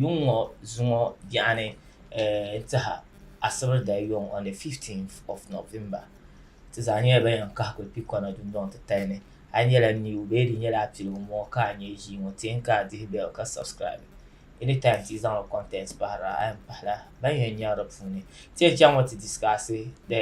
Yuŋ ŋɔ zuŋɔ yaɣini n tiha asibiri dali yuŋ on the 15th of November ti zaa nyɛla ban yan kahi kuli kpi kɔna dundɔŋ titali ni a yi nyɛla new bee di nyɛla a piligu n bɔŋɔ ka a nyɛ ʒii ŋɔ ti n ka a dihi bell ka subscribe anytime ti yi zaŋla content pahira a yan pahila ban yan nyaɣi di puuni ti yan chaŋ ŋɔ ti discuss the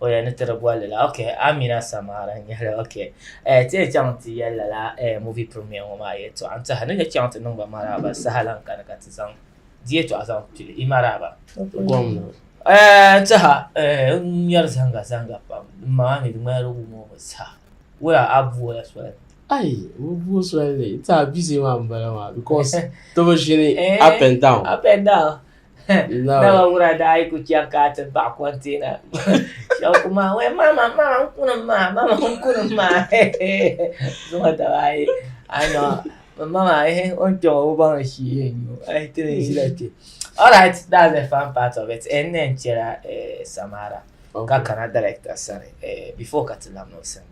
o yɛn ni tiri bolli la ok amina samara n nyɛli ok eh, ti yɛn chaŋ ti yɛli lala eh, movie premier ŋɔ maa yɛltɔɣa n tiɛha ni yɛn chaŋ ti niŋba maraaba saha lan kani ka ti zaŋ di yɛltɔɣa zaŋ pili i maraaba gomna eh, n tiɛha eh, n ŋmɛri zanga zanga pam din maŋa mi di ŋmanila wum o mi saha wula a buola soli ayi bi buo soli ni ti a bizi maa n bala maa because ti bi ʒini Eh. up and down up and down Naba wura daa yi ku chaŋ ka a ti baɣi kɔnteena shɛba ku maa wee mama mama n kunim maa mama n kunim maa zuŋɔ daba ayi a nɔ mama o ni kpɛŋɔ o baŋ ni shii yɛn nyu a yi ti ni ʒila kpɛ all right that's the fun part of it and then chɛla samara okay. ka kana director sani eh, before ka ti lahi niŋ sim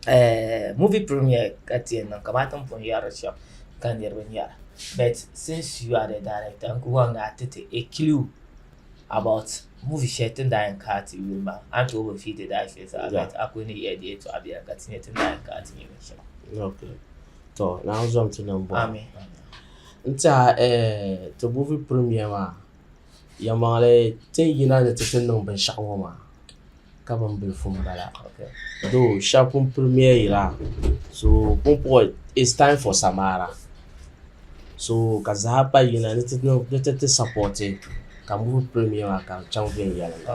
eh, movie premiere ka ti yɛn niŋ kamani tin pun yɛri shɛm ka niriba nyɛra but since you are the director n ku wan gaa ti ti a clue about movie shɛli tin daa yɛn kaa ti yuli maa a ni tooi bi fiidi daa shɛli zaa but a ku ni yɛli di yɛtɔɣa biɛla ka ti nyɛ tin daa yɛn kaa ti nyɛ binshɛli okay. to naawuni zom ti niŋ bɔhi amin n tiɛha eh, ti movie premiere maa Yɛlimaŋli ti ni yina ni ti ti niŋ binshɛɣu ŋɔ maa ka bin bilifu n bala doo shɛba pun pili miya yira so pumpɔŋ is taim fɔ samaara so ka zaa pa yina ni ti ti sapɔti ka n boli pili miya maa ka di chaŋ viɛnyɛliŋga.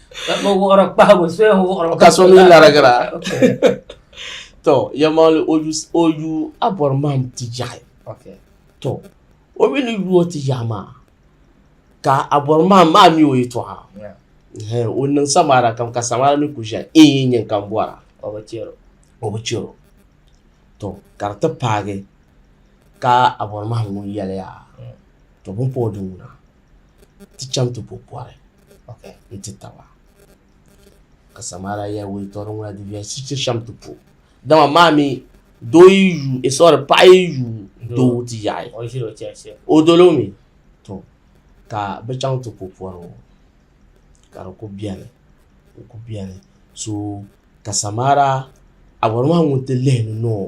ka so mi larigira tɔ yɛmmaɣili o yu o yu a bɔri mahim ti ʒiɛhi tɔ o mi ni yu o ti ʒiɛhi maa ka a bɔri mahim maa mi o yɛtɔɣa hɛn o niŋ samaara kam ka samaara mi kuli ʒiɛhi in yi nyin ka m bɔra o bi chɛ o tɔ ka di ti paagi ka a bɔri mahim ŋun yɛliya tɔ bini pa o di ŋuna ti chaŋ ti bo pɔri nti taba, ka Samaria yɛli wuntaŋ ŋuna di viɛli shiri ti shɛm ti po, dama maa mi doo yi yu e sɔri paɣa yi yu doo ti yaɣi o dolo mi to ka bi chaŋ ti po pɔri ŋɔ ka di ku beni di ku beni so ka Samaria awɔri maa ŋun ti lihi ni nɔɔ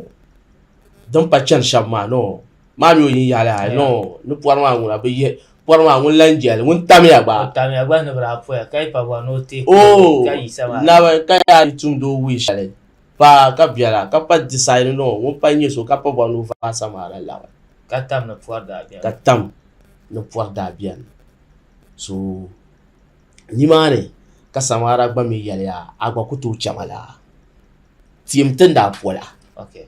din pa chani shɛba maa nɔɔ. maa mi o yin yaɣili ha no ni pɔri maa ŋuna bi yihi pɔri maa ŋun lan jɛli ŋun tamiya gba o tamiya gba ni bi daa poya ka yi pa bɔri ni o ti o oh, ka yi sama naba ka yaa yi tumdi o wuyi shɛli pa ka biɛla ka pa disaidi no ŋun pa nyɛ so ka pa bɔri ni o vaai sama la laɣi ka tam ni pɔri daa biɛni ka tam ni pɔri daa biɛni so nimaani ka samara gba mi yɛliya a gba ku tooi chɛma la tiɛm ti ni daa pola okay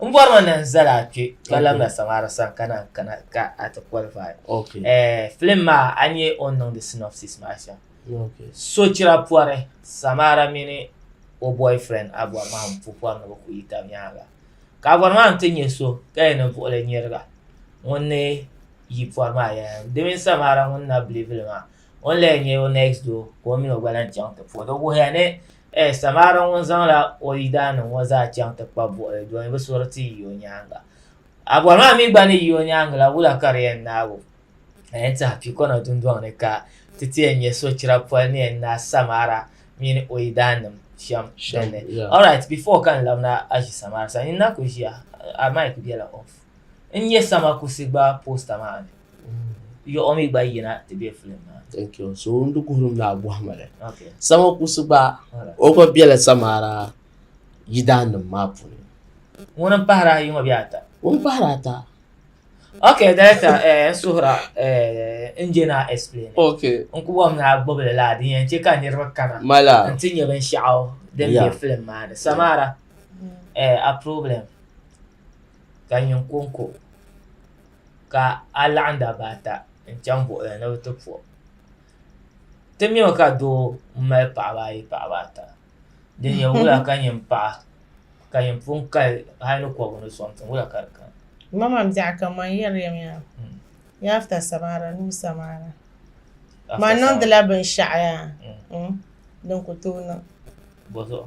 n bɔri ma na n zali a kpe ka labi na saŋara sani ka na kana ka a ti qualify okay. eh, film maa a nyɛ o niŋdi synopsis maa shɛm okay. sochira pɔri samara mini o boyfriend a bɔri maa n pu pɔri ni bi ku yi tab nyaanga ka a bɔri maa n ti nyɛ so ka yɛn ni buɣili nyɛriga ŋun ni yi pɔri maa yɛn di mini samara ŋun na bilivili maa ŋun la yɛn nyɛ o next door ka o mini o gba lahi chaŋ ti puhi di wuhiya ni Ɛ! Samaara ŋun zaŋla o yidaanim ŋɔ zaa chaŋ ti kpab buɣili doli ni bɛ suri ti yi o nyaaŋa. A bɔri maa mi gba ni yi o nyaaŋa la, wula ka di yɛn naag o? A yɛn tiɛha piikɔna dundɔŋ ni ka ti ti yɛn nya sochira poli ni yɛn naai Samaara mini o yidaannim shɛm din ni. Alright, before ka n labina Aʒi Samaara sani, nyin na kuli ʒiya, a mic bela off. n nyɛ sama kusi gba posta maa ni yiɣu mi gba yina ti bɛ filim maa thank you so n di kuhuri mi agohima li sama kusi gba o gba bɛla samara yidaa nim maa puuni ŋuni n pahara ayi ŋɔ bɛ ata ŋuni pahara ata ok director eh, n suhura eh, n jɛ naa explain ok n ku bɔm naa gbubi li laa din yɛn chɛ ka niriba kana mala n ti nyɛ binshɛɣu din bɛ filim maa ni samara eh, a problem ka nyin kɔŋko ka a laɣim dabba ata n chaŋ buɣili ni ni bɛ ti po o ti nya mi ka doo m mali paɣaba ayi paɣaba ata din nya wula ka nyin paɣa ka nyin pun kali hali ni kɔbiri ni sɔŋ tiŋ wula ka di kani bɔzuɣu.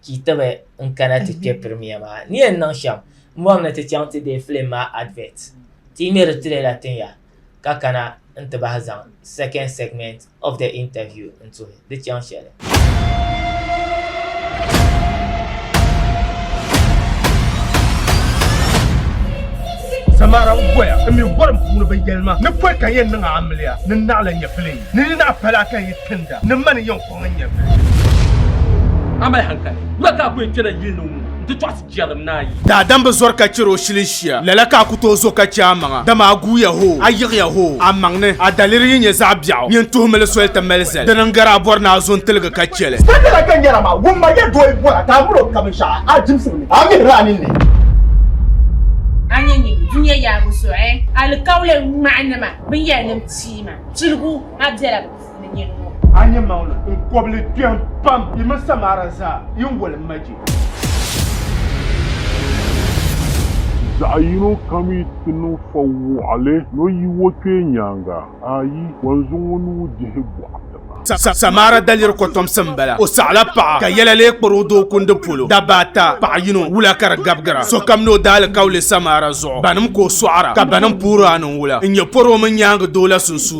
ka yi tibi n kana ti kpe pirimiya maa ni yɛn niŋ shɛm m bɔri ni ti chaŋ ti deei filim maa advert ti yi ŋmeri trailer tin ya ka kana n ti bahi zaŋ second segment of the interview n tuhi di chaŋ shɛli. Samara n goya n mi gorim puuni bi yɛlima ni pɔi ka yɛn niŋ amiliya ni naɣila nyɛpili ni ni naɣi pala ka yi tinda ni mani yɛn Daadam bi zɔri ka chɛri o shilinshia, lala ka a ku tooi zo ka chɛ amaŋa. Dama a guuya hoo, a yiɣiya hoo, amaŋ ni, a daliri yi nyɛ zaɣ biɛɣu, nyin tuhimili soli ti mali zali. Di ni n-gari a bɔri ni a zo n-tiligi ka chɛ li. Sitani la ka n yɛra maa, wumma ya dooyi bɔra ka a miri o ka binshɛɣu a jimsiri ni a mihiri a ninni. A ni nya dunia yaabu zuɣu alikauli ŋmahinima binyɛrnim pia maa, chiligu maa bela bɛ puuni. ni nyini ŋɔ. A nya maŋli n kɔbili kpɛm pam yi mini Samara zaa yi ni wali ma je. Zaɣ yino kam yi ti niŋ fa wɔɣili ni o yi o kpee nyaaŋa, ayi, o ni zaŋ o nuu dihi bɔɣu tiŋa. Samara daliri kɔtomsi m-bala. O saɣila paɣa ka yɛla lee kpari o doo kundi polo. Dabba ata, paɣa yino, wula ka di gabigira. Sokam ni o daalikauli Samara zuɣu. Banim ka o sɔɣira, ka banim puhiri a ni n-wula n-nyɛ pɔri o mini nyaaŋa doo la sunsuuni.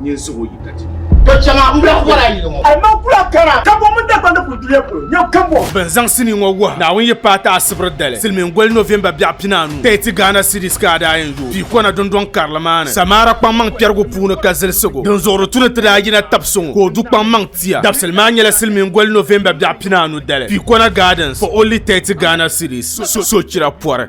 nyin suhu yi ka ti. To chɛma m biɛɣu bɔra yili ŋɔ. Alimaŋ kula kara ka bo mini Dagbani ni kuli duliya polo nyɛ kambɔŋ. Bɛ ni zaŋ sinii ŋɔ wuhi Naawuni yi paai ti Asibri dali silimiin goli November biɛɣu pinaanu ka yi ti Ghana cedis ka a daa yɛn yooi pii kɔna dundɔŋ karili maa ni Samara kpaŋmaŋ kpɛrigu puuni ka zilisigu din zuɣuri tu ni ti daa yina tabi so ŋɔ ka o du kpaŋmaŋ tia dabisili maa nyɛla silimiin goli November biɛɣu pinaanu dali pii kɔna gardens for only thirty Ghana cedis sochira pɔri.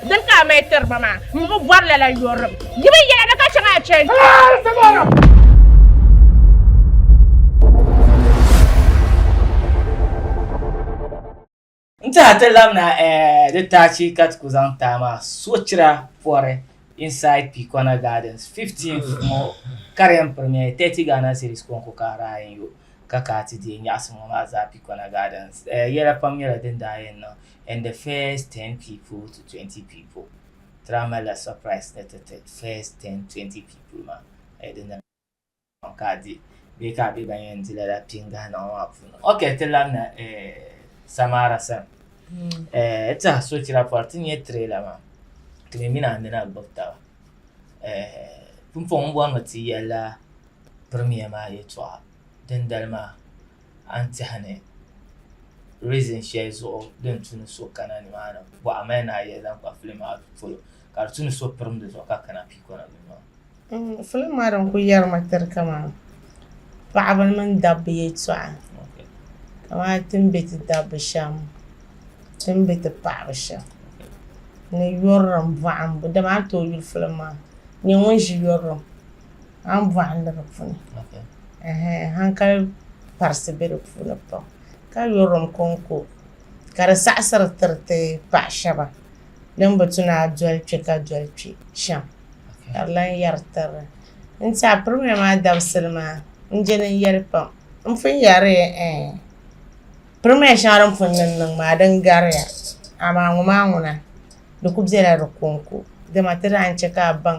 Dini ka a mali tiri ba maa? M bi bɔri lala yɔrim. Di mi yɛla ni ka chaŋ a chani. N tiɛha ti labina di taachi ka ti ku zaŋ taai maa sochira pɔri inside Pikɔna Gardens, 15th ŋɔ Karen Premier 30 Ghana Cedis kɔŋko ka Ryan yo ka ka ti deei nyaɣisim ŋɔ maa zaa Pikɔna Gardens. Yɛla pam nyɛla din daa yɛn niŋ and the first ten people to twenty people tira mali la surprise ni ti ti first ten twenty people ma eh, di na ka di bee ka bɛ ban yɛn di lala pingahi niŋ maa puuni ok ti labina eh, samara sani hmm. eh, ti a sochira pɔri ti nyɛ trailer maa ti mi mini amina gbubi taba eh, pumpɔŋ bɔrimi ti yɛla premier maa yɛtɔɣa dindali maa a ni tɛha ni reason shɛli zuɣu din tu ni so kana ni maa ni bɔɣa mali ni a yɛli zaŋ kpa film maa polo ka di tu ni so pirim di zuɣu ka kana piikɔna ni maa. Mm, film maa din ku yɛri ma tiri kaman paɣaba mini dabba yɛltɔɣa kamani ti ni be ti dabba shɛm ti ni be ti paɣaba shɛm ni yurilim bɔhimbu dama a ni tooi yuli film maa nyɛ ŋun ʒi yurilim an bɔɣu ni di puuni hankali parisi be di puuni pam ka yuri din kɔŋko ka di saɣisiri tiri ti paɣ shɛba din bi tu ni a doli kpe ka doli kpe shɛm ka di lan yɛri tiri n ti a pirimiya maa dabisili maa n-je din yɛli pam n pun yɛri pirimiya shɛŋa din pun niŋ niŋ maa din gariya amaa ŋɔ maa ŋuna di ku bela di kɔŋko dama ti daa ni chɛ ka a baŋ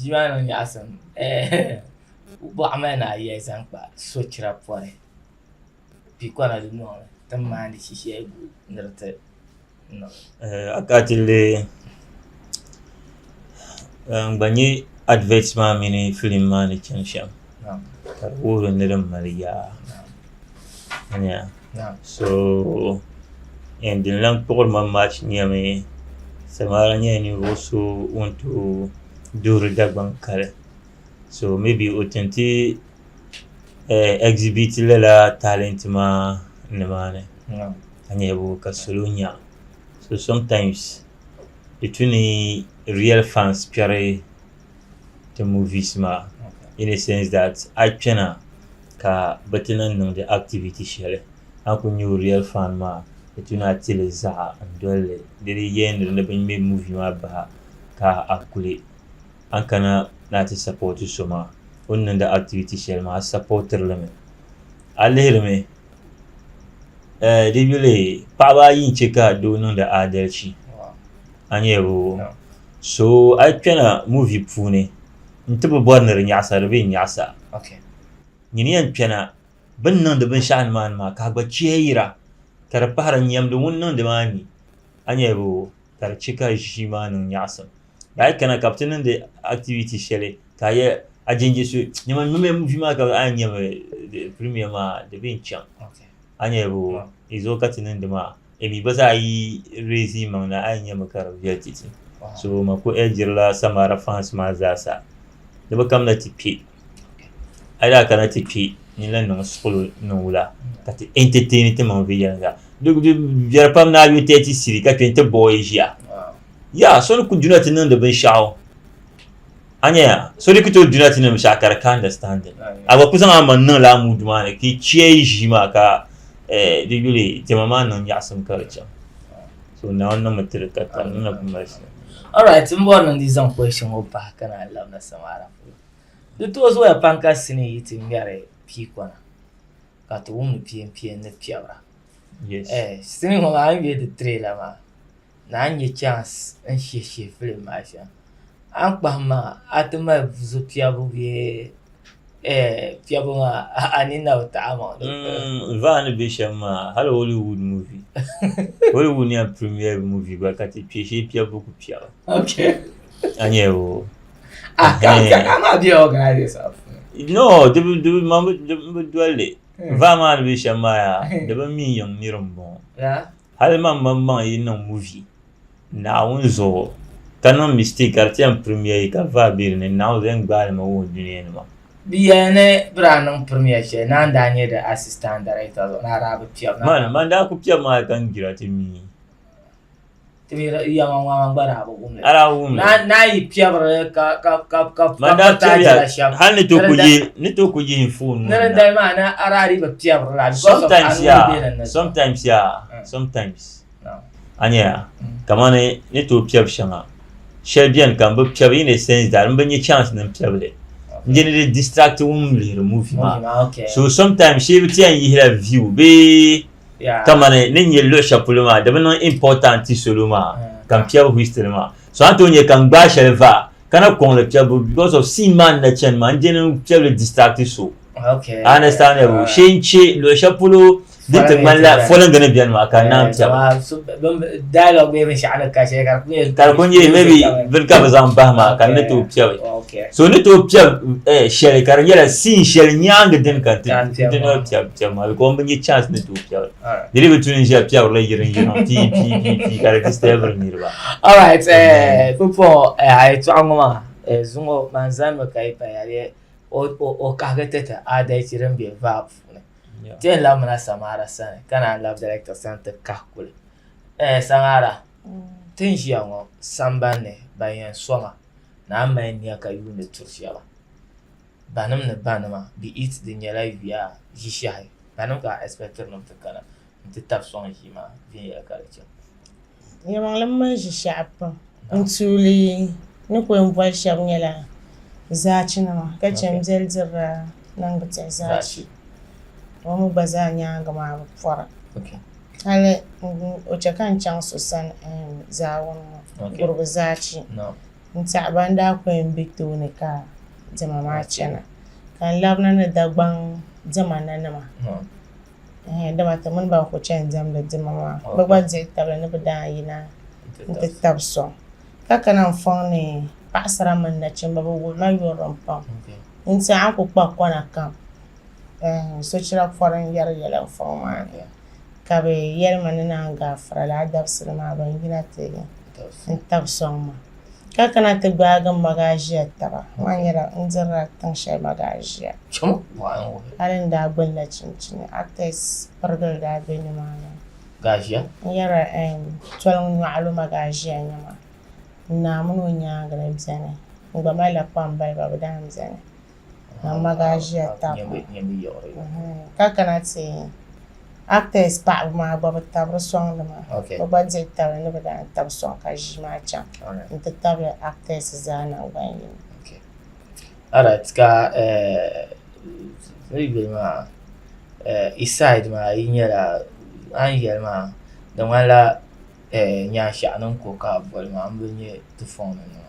Ʒiɛmani niŋ nyaɣasim bɔɣa mali ni ayiya zaŋ kpa sochira pɔri pikɔna dunoli ti ni maandi shishɛgu ni di ti niŋ akatili n gba nyɛ adivɛt maa mini filim maa ni chani shɛm ka di wuhiri ni din mali yaa so n din lan kpuɣiri ma maach nyɛmi samaara nyɛla ninvuɣu so ŋun tooi duɣuri Dagbaŋ kali so mibi o tin ti ɛgzibiti lala taalɛnti maa nimaani ka nyɛ ka salo nya so somtaains di tu ni riyɛl faans kpɛri ti movies maa in a sense that a yi kpɛna ka bɛ ti lan niŋdi activity shɛli a ni kuli nyɛ o real fan maa di tu ni a ti li zaɣa n-doli li di di yɛnri ni bɛ ŋme movie maa bahi ka a kuli a ni kana ni a ti support so maa o ni niŋdi activity shɛli maa a supportiri li mi a lihiri mi eh di yuli paɣaba ayi n-che ka doo niŋdi aadalichi a nyaabu so a yi kpɛna muvi puuni n ti bi bɔri ni di nyaɣisa di bi yɛn nyaɣisa nyini yɛn kpɛna bi ni niŋdi binshɛɣu ni maa ni maa ka a gba chihi yira ka di pahira nyɛmdi ŋuni niŋdi maa ni a nyɛ bi o ka di chɛ ka ʒii maa niŋ nyaɣisim daa a yi kana ka bi ti niŋdi activity shɛli ka a yɛ a jɛnjɛ so dama n nyɛmi muvi maa ka a yɛn nyɛmi premier maa di bi yɛn chaŋ a nyɛ bi o yi zuɣu ka ti niŋdi maa Emi gba zaa yi reezi yimaŋ na a yi nya mi ka di viɛli titi. So ma ku ɛlgirila Samara fans maa zaa sa ni bɛ kamina ti kpe. A yi daa kana ti kpe ni lan niŋ suɣulo niŋ wula ka ti entertain timaŋ viɛnyɛliŋga. Di viɛli pam ni a yo tɛɛti siri ka kpe n-ti bɔɔ yi ʒiya. Yaa so ni ku duna ti niŋdi binshɛɣu. Anyaya, so di ku tooi duna ti nim shɛɣu ka di ka understanding. A gba ku zaŋ a maŋ niŋla a mood maa ni ka yi chiya yi ʒii maa ka eh, di yuli diɛma maa niŋ nyaɣisim ka di chaŋ. So Naawuni niŋmi ti di ka tali, di na ku mali shɛli. Alright, m bɔri ni n di zaŋ question ŋɔ pahi ka naan labina samaara polo. Di tooi zooya pam ka sinii yi ti ŋmɛri piikɔna ka ti wumdi piempieni ni piɛbira. Yes. Eh, sinii ŋɔ maa a ni yuli di tray la maa, Naa n-nyɛ chance n-shihi shihi film maa shɛm a ni kpahim maa a ti mali zo piɛbu bee piɛbu maa a ni na bi taɣi amaŋ di puuni. Mm, vaa ni be shɛm maa hali Hollywood movie Hollywood ni yɛn premiere movie gba ka ti kpe shee piɛbu ku piɛba Okay. a nya o Ah, ka ka ka maa be organizers maa puuni. no di bi di bi man bi di- n bi doli li vaa maa ni be shɛm maa yaa di bi mi yiŋ nir m-bɔŋɔ Yeah. Hali man man maŋ yi niŋ movie Naawuni zuɣu ka niŋ mistake ka di ti yɛn premier yi ka vaa be di ni, Naawuni zaŋ gbaai li ma wuhi dunia ni maa. Di yɛli ni bɛ daa niŋ premier shɛli na n-daa nyɛ di assistant director zuɣu ni a daa bi piɛb na. Man, man daa ku piɛb maa ka n gira ti mi. Ti mi di yɛma ŋɔ a man gba daa bi. ala wummi n'a yi piɛbiri hali ni to ku yi ni to ku yi fon sometimes ya sometimes ya sometimes a nya kamani ni to piɛbi shɛŋa shɛli bɛni ka n bi piɛbi in a sense that n bi nya chance ni n piɛbi li n-je ni di distract wum lihiri movie maa so sometimes shee bi ti yɛn yihila view bee Yeah. kamani ni nyɛ luɣi shɛli polo maa di bi niŋ important ti solo maa Mm. ka n piɛbi history maa so a ni tooi nyɛ ka n gbaai shɛli va ka na kɔŋ li piɛbu because of scene maa ni na chani maa n dini n piɛbili distract so Okay. a understand ya bu shee n che luɣi shɛli polo din ti ŋmani la fɔlingi ni bɛni maa ka n naan piɛbu Wow, so- bin- Dialogue bee binshaɣu ni ka shɛli ka di ku nyɛ. ka di ku nyɛ maybe bini ka bi zaŋ bahi maa ka n ni tooi piɛbi Okay. so ni tooi piɛbi eh, shɛli ka di nyɛla scene shɛli nyaangi dini ka n ti Ka n piɛbi n ti maa. tooi piɛbi Tiɛm maa bikom bi nyɛ chance ni tooi piɛbira di ni bi tu n ʒiya piɛbirila yiri n yirina pii pii pii pii ka di distabiri niriba all right eh, pupo eh, a yi tɔɣa ŋɔ maa eh, zuŋɔ man zanimi ka yi paya di o o o kahigi ti ti aadalchi din be vaa puuni ti yɛn labimina samaara sani ka naan labi director sani ti kahi kuli eh, samaara ti ni ʒiya ŋɔ sambanni ban yɛn soma naan mali nia ka yuuni tiri shɛba banim ni banima, be it di nyɛla yuya ʒishɛhi banim ka a expectiri nim ti kana nti tab sɔŋ ʒii maa viɛnyɛla ka di chɛ. Nyɛmaŋlim mali ʒishɛhi pam n tuuli ni ku yɛn boli shɛb nyɛla zaachinima ka chɛ n beli dirila niŋdi tihi zaachi o mi gba zaa nyaaŋa maa bi pɔra hali o chɛ ka n chaŋ so sani zaawuni ŋɔ gurugu zaachi. n tiɛhi ban daa ku yɛn be tooni ka diɛma maa chana, ka n labina ni Dagbaŋ diɛma nanima, ɛɛh, dama ti mini ba n-ku chani diɛmdi diɛma maa, bɛ gba dihi tabili ni bɛ daa yina nti tab sɔŋ, ka kana n fɔŋ ni paɣisara mini nachimba, bɛ wuri ma yurilim pam, n tiɛhi a ni ku kpa kɔna kam, ɛɛh, sochira pɔri n-yɛri yɛla n fɔŋ maa ni. ka bɛ yɛli ma ni naan gaafira laa dabisili maa ban yina ti n-tab sɔŋ ma. Ka kana ti gbaagi m magaʒia taba. Maa nyɛla n dirila tiŋ shɛli magaʒia. Hali n daa gbinila chinchini, artist pirigili daa be nimaani. N yɛra eem, toliŋ nyɔɣilo magaʒia nɛma. Naa mini o nyaaŋa ni beni. N gba malila kpambaliba bɛ daa m-beni. Mama gaa ʒiya tam ka kana ti actors paɣaba maa gba bi tabiri sɔŋ nima bi gba dihi tabili ni bi daa tabi sɔŋ ka ʒii maa chaŋ n ti tabili actors zaa nangbani yini. Alright ka yi yuli maa i side maa yi nyɛla a ni yɛli maa di ŋmanila nyaanshɛɣu ni n ko ka boli maa n bi nyɛ ti fɔŋ ni nima.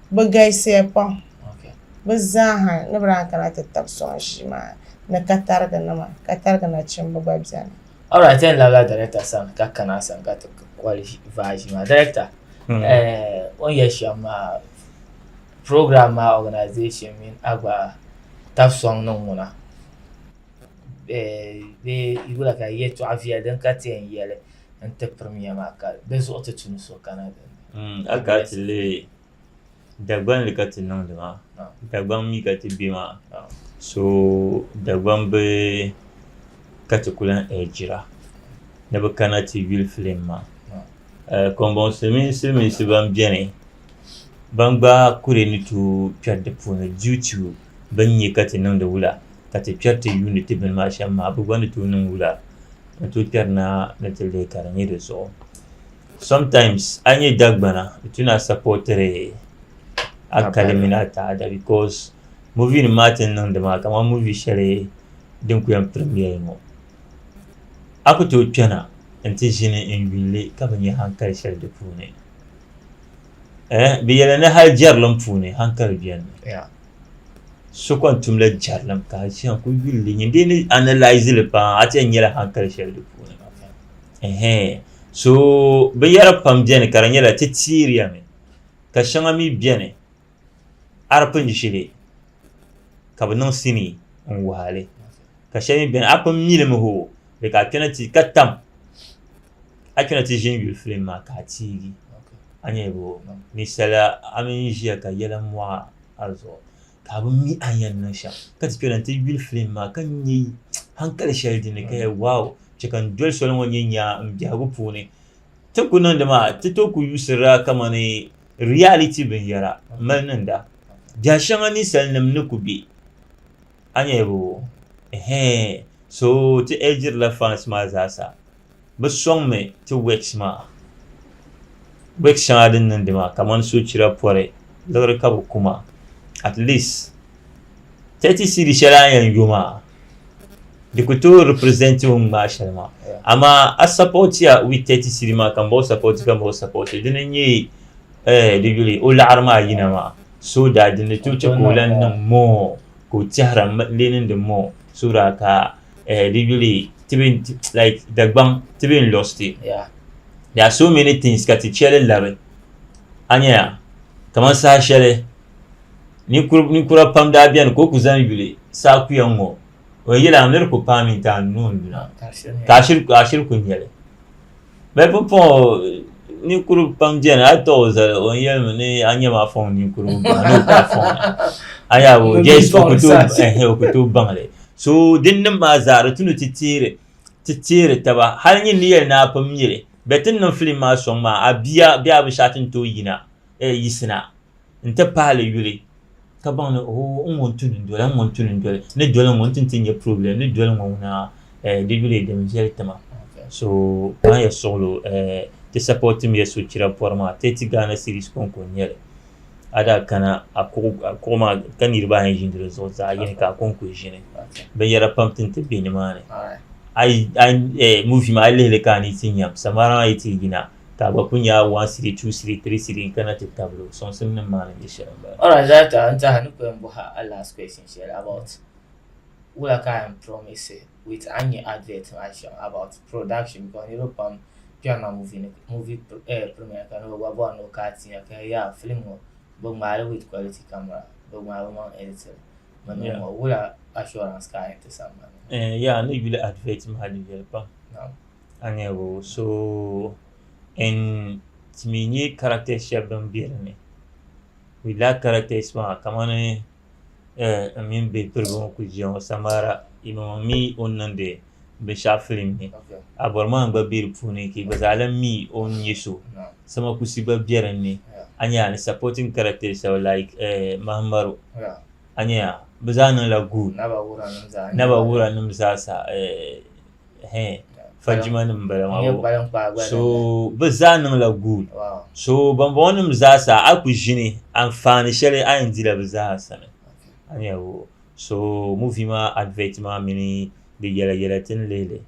bɛ galisiya pam bɛ zaaha ni bɛ daa kana ti tab sɔŋ ʒii maa ni katarigi nima katarigi nachimba gba beni. Alright yɛn labila director sani ka kana a sani ka ti kɔli vaa ʒii maa director hmm. eh, o ni yɛ shɛm maa program maa organization mini a gba tab sɔŋ niŋ ŋuna eh, bee yuli ka yɛtɔɣa viɛli din ka ti yɛn yɛli n ti pirimiya maa ka di zuɣu ti tum so kana din ni. Mm, a ka ti lihi Dagban li ka ti niŋdi maa, ah. Dagban mi ka ti be maa, ah. so Dagban bi ka ti ku lan ɛɛjira ni bi kana ti yuli filim maa. Ah. Eh, Kɔmbɔŋ silimiin silimiinsi ban beni ban gba kuri ni tooi kpɛri di puuni due to bɛ ni nya ka ti niŋdi wula, ka ti kpɛri ti yuuni ti bini maa shɛm maa, bɛ gba ni tooi niŋ wula n-tooi kpɛri naa ni ti leei ka di nyɛ di zuɣu. Sometimes a ni nyɛ Dagbana di tu ni a supportiri a kali mini a taada because movie nim maa ti ni niŋdi maa kamani movie shɛli din kuli yɛn premiere ŋɔ a ku tooi kpɛna n-ti ʒini n-yuuni li ka bi nya hankali shɛli di puuni. eh, bɛ yɛli ni hali jɛrilim puuni hankali bɛni mi yeah. so kon tumla jɛrilim ka shɛŋa ku yuli li nyin dee ni analyse li paa a ti nyɛla hankali shɛli di puuni okay. so binyɛra pam bɛni ka di nyɛla ti tiiriya mi ka shɛŋa mi bɛni arpin ʒili ka bi niŋ sini n waali ka shɛli mi bɛni a pun mili mi ho di ka kpɛna ti ka tam a kana ti ʒini yuli filim maa ka a tiigi a nyɛli bo ni sala a mini ʒiya ka yɛla mɔɣa a zuɣu ka a bi mi a yɛn niŋ shɛm ka ti kpɛla ti yuli filim maa ka nyɛ hankali shɛli din ni ka yɛ waaw chɛ ka n doli soli ŋɔ nyɛ nyaa n biɛhigu puuni ti ku niŋdi maa ti tooi ku yuusirila kamani riyaliti binyɛra mali niŋda biɛha shɛŋa ninsal nim ni ku bɛ A nyɛbu, Ɛhɛɛn, so ti ɛɛ diri la fans maa zaasa. Bɛ sɔŋ mi ti works maa. Works shɛŋa din niŋdi maa kamani sochira pɔri liɣiri ka bɛ ku ma. At least 30 cedi shɛli a yɛn yo maa di ku tooi represent o ni ŋmaai shɛli maa. Amaa a support ya with 30 cedi maa ka m ba o support ka m ba o support dini n-nyɛ ɛɛh di yuli o laɣiri maa yina maa. so daa di ni tooi chɛ ka o lan niŋ moo ka o tɛhira lee niŋdi moo so daa ka di yuli Dagbaŋ ti be n lost it there are so many things ka ti chɛ li labi a nyɛya kamani saha shɛli ninkura pam daa beni ka o kuli zaŋ yuli saha kuya ŋ-ŋɔ o yili a miri ku paami nti a nuu n-duna ka a shiri ku nyɛli bɛ pumpɔŋɔ ninkuri pam beni a tɔɣi o zali o yɛli mi ni a nyɛmi a fɔŋ ninkurigu baŋ ni o ka fɔŋ a yaa o jɛs o ku tooi baŋli so din niŋ maa zaa di ti ni ti teeri taba hali nyin ni yɛli ni a pun miri bɛ ti ni niŋ filim maa sɔŋ maa a bia bee a binshɛɣu ti ni tooi yina yisina n-ti pahili yuli ka baŋ ni ooh n ŋun tuni n-doli n ŋun tuni n-doli ni doli ŋɔ n-ti ti nyɛ problem ni doli ŋɔ ŋuna eh di yuli din viɛli tima so baŋ ya suɣilo eh ti support mi ya sochira pɔri maa Tɛti Ghana series kɔŋko n-nyɛli a daa kana a kuɣu a kuɣu maa ka niriba ayi ʒini di zuɣu zaɣ yini ka a kɔŋko ʒini binyɛra pam ti ni ti be ni maa ni a yi a yi eh movie maa a yi lihili ka a ni yi ti nyam samara maa yi ti yina ka a gba ku nya a one siri two siri three siri n kana ti tabili o soŋsim nim maa ni nyɛ shɛli n bala. Alright zaa ta n taha ni ku yɛn bɔhi a last question shɛli about wula ka a yɛn promise with a ni nyɛ advert maa shɛm about production because niriba pam kpɛri na movie ni movie eh, premiere ka ni bi gba bɔri ni o ka ti nya ka yaa film ŋɔ bi ŋmaai li with quality camera bi ŋmaai bi maŋ editing mi niŋ ŋɔ wula assurance ka a yɛn ti sambani. Eh, yaa ni yuli advert maa di viɛli pam. Naam. Aniɛbo. So n timi nyɛ characters shɛb din be din ni. We lack characters maa kamani n mini be piriba ŋɔ kuli ʒiya ŋɔ Samara yimaŋɔ mi o ni niŋdi binshɛɣu film ni Abɔrimaa gba be di puuni ka yi gba zaa lahi mi o ni nyɛ so Sama Kusi gba be din ni a nya ni supporting characters shɛba like Mahamaro a nya bɛ zaa niŋla good Naba Wuranim zaa n nya ba Naba Wuranim zaa sa. fajima nim n bala maa so bi zaa niŋla guul so bambɔŋɔ nim zaa sa a ku ʒini anfaani shɛli a yɛn dila bi zaa sani a ni yɛli o so muvi maa adivɛt maa mini di yɛla yɛla ti ni lihili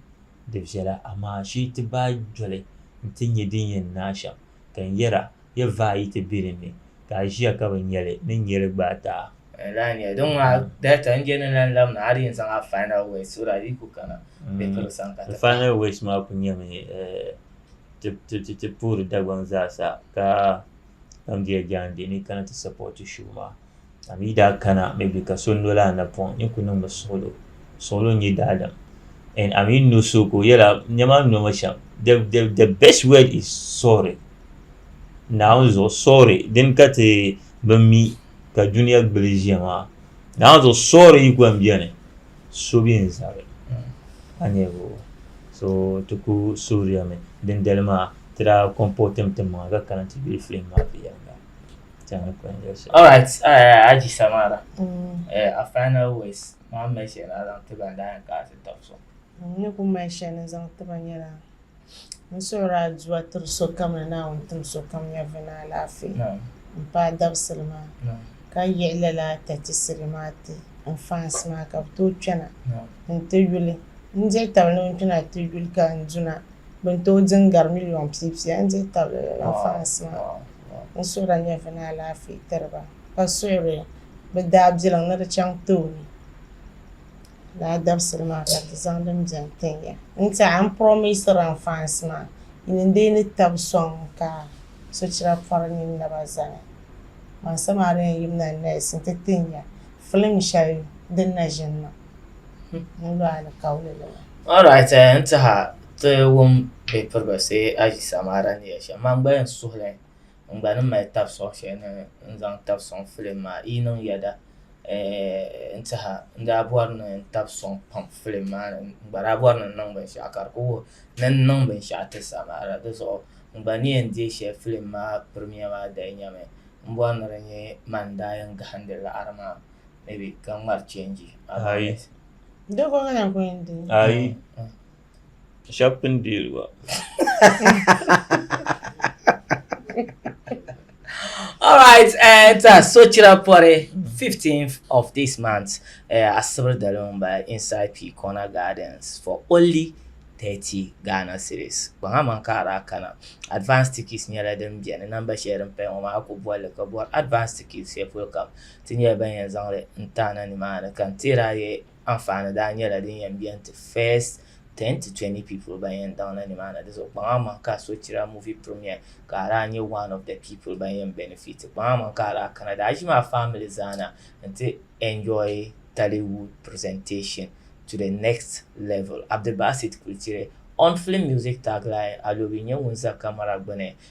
di viɛla amaa shee ti baai doli n ti nyɛ din yɛn niŋ a shɛm Ka n yɛra, Yi vaai yi ti biri ni, ka a ʒiya ka bi nya li, ni n nyɛ li gba a taha. N lahi nya din ŋɔ a data n je ni lan lab ni a di yɛn zaŋ a final words so that yi ku kana n bikiri sani ka ti pahi. Final words maa ku nyɛmi ti ti puhiri Dagbaŋ zaa sa ka Gambia jaande ni yi kana ti support show maa. a mi daa kana mi bi ka so noli a napɔŋ ni ku niŋmi suɣulo suɣulo n-nyɛ daadam and a mi no so ka o yɛla nɛma n nomi shɛm the, the, the best word is sorry naawuni zuɣu sorry din ka ti bi mi ka duniya gbuli ʒiya maa naawuni zuɣu sorry yi gba n-beni so bi n zabi a nyɛvo so ti ku suhiriyami dindali maa ti daa comportim ti maŋa ka kana ti be film maa viɛnyɛla All right, uh, Aji Samara. Mm. Uh, our final words. Mom mentioned I don't think I'm dying because it talks so. Ni ku mention is on tiba nyɛla n suhuri aduwa tiri sokam ni naawuni tim sokam nyɛvi ni alaafee n paai dabisili maa ka yiɣi lala tatisiri maa ti n fans maa ka bi tooi kpɛna n ti yuli n diri tabili ni n kpɛna ti yuli ka n duna bin tooi din gari miliyon piipiya n diri tabili lala fans maa N suhu daa nyɛvila ni alaafee tiri ba, ka suhiri bɛ daabilim ni di chaŋ tooni. Lala dabisili maa ka di zaŋ din beni tin ya. N tiɛha n promisira n fans maa ni n dii ni tab sɔŋ ka sochira pɔri nyin naba zani. Maŋ samahariya n yimina nees n ti tin ya film shɛli din na ʒini maa. Alright eh, n tiha ti wum bɛ pirigisi aʒi samaara ni yɛli shɛm man gba yɛn suhili n gba ni mali tabi sɔŋ shɛli ni n zaŋ tabi sɔŋ filim maa yi niŋ yɛda eh, n tiha n daa bɔri ni n tabi sɔŋ pam filim maa ni n gba daa bɔri ni n niŋ binshɛɣu ka di ku wuhi ni n niŋ binshɛɣu ti samaara di zuɣu n gba ni yɛn deei shɛli filim maa pirimiya maa dali nyami m bɔri ni di nyɛ man n daa yɛn gahindi laɣiri maa maybe ka ŋmari change ayi doko ŋana ko n di ayi shab pun deeli ba All right, uh, it's a Sochira Pore, 15th of this month, uh, at Sibir Dalumba inside P Corner Gardens for only 30 Ghana series. Banga man ka ara kana. Advanced tickets nyɛla din biɛni namba shɛli din paya ŋɔ maa ku bɔli ka bɔri advanced tickets shɛli polo kam Ti nyɛla ban yɛn zaŋli n ti a na nimaani ka n tihiri a ye anfaani daa nyɛla din yɛn beni ti first ten to twenty people ban yɛn daŋ na nimaani di zuɣu kpaŋa aman ka a sochira movie premiere ka a daa nyɛ one of the people ban yɛn benefit kpaŋa aman ka a daa kana daa ʒimi a family zaa na n ti enjoy Tollywood presentation to the next level Abdulbasit Kultire on film music tagline Alobi nyɛ ŋun za camera gbuni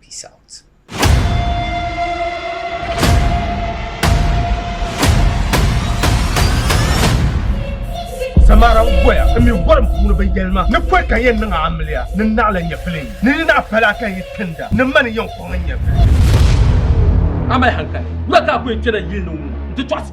Peace out. Samara n goya n mi gorim puuni bin yɛlima ni pɔi ka yɛn niŋ amiliya ni naɣila nyɛvili ni ni naɣi pala ka yi tinda ni mani yɛn kɔŋ nyɛvili. Amali hankali, wula ka a ku yɛn kpɛna yili ni ŋɔ n ti tɔɣisi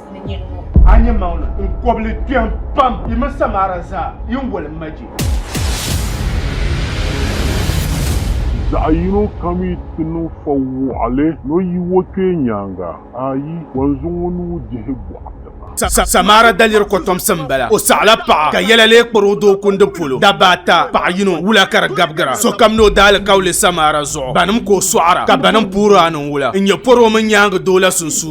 ni nyɛ ŋɔ. A nyɛ maŋli n kɔbili kpɛm pam yi mini Samara zaa yi ni wali maji. Zaɣ yino kam yi ti niŋ fa wɔɣili ni o yi o kpee nyaaŋa, ayi, kɔnzu ŋɔ ni o dihi bɔɣi ti ma. Samara daliri kɔtomsi m-bala. O saɣila paɣa ka yɛla lee kpari o doo kundi polo. Dabba ata, paɣa yino, wula ka di gabigira. Sokam ni o daalikauli Samara zuɣu. Banim ka o sɔɣira, ka banim puhiri a ni n wula n-nyɛ pɔri o mini nyaaŋa doo la sunsuuni.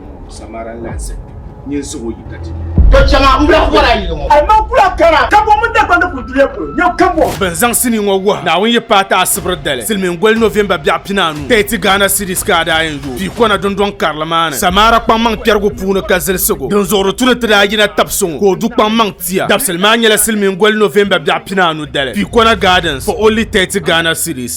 Samara n lahi zaya ni n siɣi o yi ka ti nya. To chɛŋa m bla bɔra yili ŋɔ. Hali man kula kana kambɔŋ mini Dagbani kuli duya polo nyɛ kambɔŋ. Bɛ ni zaŋ sinii ŋɔ wuhi Naawuni yi paai ti Asibri dali, Silimiingoli November biɛɣu pinaanu, Tɛti Ghana Cedis ka a daa yɛn yooi pii kɔna dundɔŋ karili maa ni Samara kpaŋmaŋ kpɛrigu puuni ka zilisigu din zuɣuri tu ni ti daa yina tabi so ŋɔ ka o du kpaŋmaŋ tia dabisili maa nyɛla Silimiingoli November biɛɣu pinaanu dali, Piikona Gardens for only Tɛti Ghana Cedis.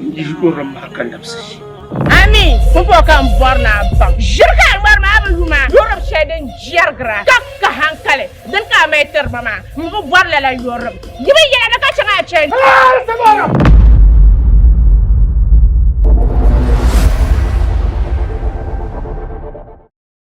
N-yihi o rim maa ka labisi ʒi. Ami pumpɔŋɔ ka n bɔri ni a baŋ ʒiri ka a ŋmari maa bi lu maa yɔrim shɛli din jɛrigira ka ka hankali dini ka a mali tiri ba maa. M bi bɔri lala yɔrim. Yi mi yɛla ni ka chaŋ a chani.